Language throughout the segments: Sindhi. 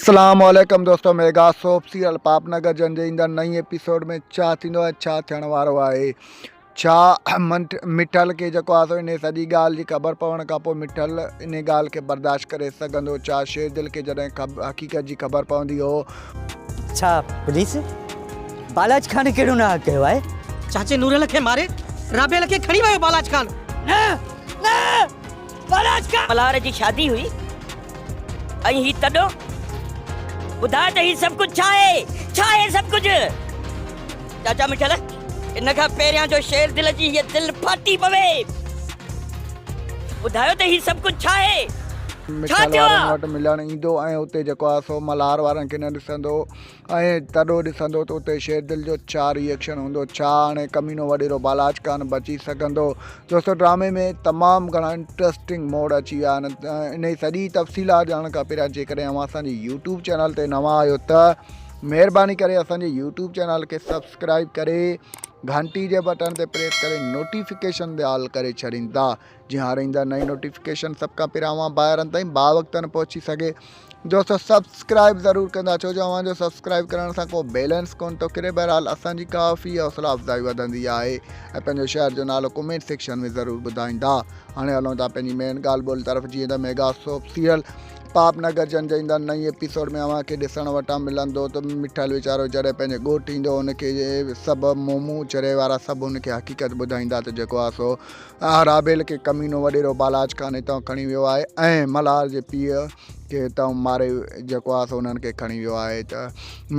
اسلام عليڪم دوستو ميگا سوپ سيريل پاپ نگر جن جي ايندڙ نئين ايپيسوڊ ۾ ڇا ٿيندو ۽ ڇا ٿيڻ وارو آهي ڇا مٺل کي جيڪو آسو ان سڄي ڳالهه جي خبر پوڻ کان پوء مٺل ان ڳالهه کي برداشت ڪري سگهندو ڇا شير دل کي جڏهن حقيقت جي خبر پوندي هو ڇا پوليس بالاج خان ڪهڙو نه ڪيو آهي چاچي نورل کي ماري رابيل کي کڻي ويو بالاج خان نه نه ملهار جي شادي هئي ۽ هي تڏو ٻڌاء ته هي سڀ ڪجهه ڇا آهي؟ ڇا آهي سڀ ڪجهه؟ چاچا مٺل ان کان پهريان جو شير دل جي هيء دل ڦاٽي پوي. ٻڌايو ته هي سڀ ڪجهه ڇا آهي؟ ڇا مٺل ٿيو وارن آ؟ وٽ ملڻ ايندو ۽ اتي جيڪو آ سو ملهار وارن کي نه ڏسندو. ائين تڏو ڏسندو ته اتي شيردل جو ڇا ري ايڪشن هوندو؟ ڇا هاڻي ڪمينو وڏيرو بالاچ ڪانه بچي سگهندو؟ دوستو ڊرامي ۾ تمام گهڻا انٽرسٽنگ موڙ اچي ويا آهن انهي سڄي تفصيلات ڄاڻڻ کان پهريان جيڪڏهن اوهان اسان جي يوٽيوب چينل تي نوان آهيو ته مهرباني ڪري اسان جي يوٽيوب چينل کي سبسڪرائب ڪري گهنٽي جي بٽڻ تي پريس ڪري نوٽيفڪيشن دي آل ڪري ڇڏيندا جي هاڻي ايندا نئين نوٽيفڪيشن سڀ کان پهريان اوهان ڀائرن تائين با وقتن پهچي سگهي دوستو سبسڪرائب ضرور ڪندا ڇو جو اوهان جو سبسڪرائب ڪرڻ سان ڪو بيلنس ڪون ٿو ڪري بهرحال اسان جي ڪافي حوصلا افزائي وڌندي آهي ۽ پنهنجو شهر جو نالو ڪمينٽ سيڪشن ۾ ضرور ٻڌائيندا هاڻي هلون ٿا پنهنجي مين ڳالهه ٻولهه طرف جيئن ته ميگا سوپ سيريل پاپ نگر جن جي ايندا نئين ايپيسوڊ ۾ اوهان کي ڏسڻ وٽان ملندو ته مٺل ويچارو جڏهن پنهنجي ڳوٺ ايندو ان کي سڀ مومون چري وارا سڀ ان کي حقيقت ٻڌائيندا ته جيڪو آسو آهه رابيل ڪي ڪمينو وڏيرو بالاچ کان هتان کڻي ويو آهي ۽ ملهار جي پيء کي هتان ماري جيڪو آهه سو انهن کي کڻي ويو آهي ته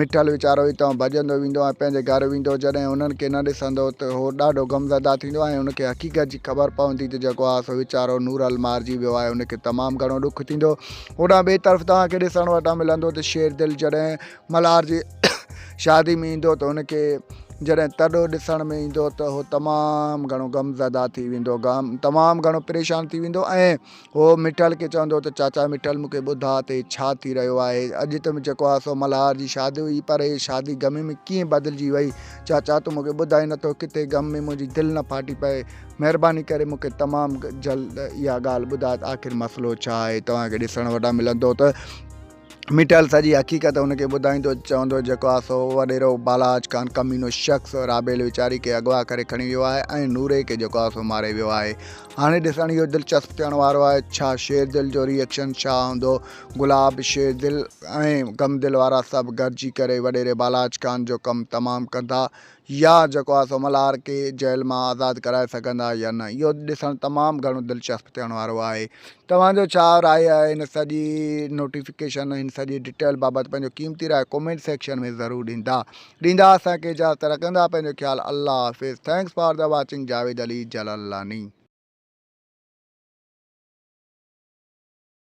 مٺل ويچارو هتان ڀڄندو ويندو ۽ پنهنجي گهر ويندو جڏهن انهن کي نه ڏسندو ته هو ڏاڍو غم زده ٿيندو ۽ ان کي حقيقت جي خبر پوندي ته جيڪو آهه سو ويچارو نورل مارجي ويو آهي ان کي تمام گهڻو ڏک ٿيندو هوڏانهن ٻئي طرف توهان کي ڏسڻ وٽان ملندو ته شير دل جڏهن ملهار جي شادي ۾ ايندو ته هن کي جڏهن تڏو ڏسڻ ۾ ايندو ته هو تمام گهڻو غم زده ٿي ويندو غم تمام گهڻو پريشان ٿي ويندو ۽ هو مٺل کي چوندو ته چاچا مٺل مون کي ٻڌا ته هي ڇا ٿي رهيو آهي اڄ ته جيڪو آ سو ملهار جي شادي هئي پر هي شادي غم ۾ ڪيئن بدلجي وئي چاچا تون مون کي ٻڌائي نٿو ڪٿي غم ۾ منهنجي دل نه ڦاٽي پئي مهرباني ڪري مون کي تمام جلد اها ڳالهه ٻڌاء آخر مسئلو ڇا آهي توهان کي ڏسڻ وٽان ملندو ته ميٺل سڄي حقيقت هن کي ٻڌائيندو چوندو جيڪو آ سو وڏيرو بالاچ خان ڪمينو شخص رابيل ويچاري کي اغوا ڪري کڻي ويو آهي ۽ نوري کي جيڪو آ سو ماري ويو آهي هاڻي ڏسڻ اهو دلچسپ ٿيڻ وارو آهي ڇا شير دل جو ري ايڪشن ڇا هوندو گلاب شير دل ۽ غم دل وارا سڀ گڏجي ڪري وڏيري بالاچ خان جو ڪم تمام ڪندا يا جيڪو آهي سو ملهار کي جيل مان آزاد ڪرائي سگهندا يا نه اهو ڏسڻ تمام گهڻو دلچسپ ٿيڻ وارو آهي توهان جو ڇا راء آهي هن سڄي نوٽيفڪيشن هن سڄي ڊيٽيل بابت پنهنجو قيمتي راء ڪومينٽ سيڪشن ۾ ضرور ڏيندا ڏيندا اسان کي اجازت رکندا پنهنجو خيال الله حافظ thanks for the watching Javed Ali Jalalani.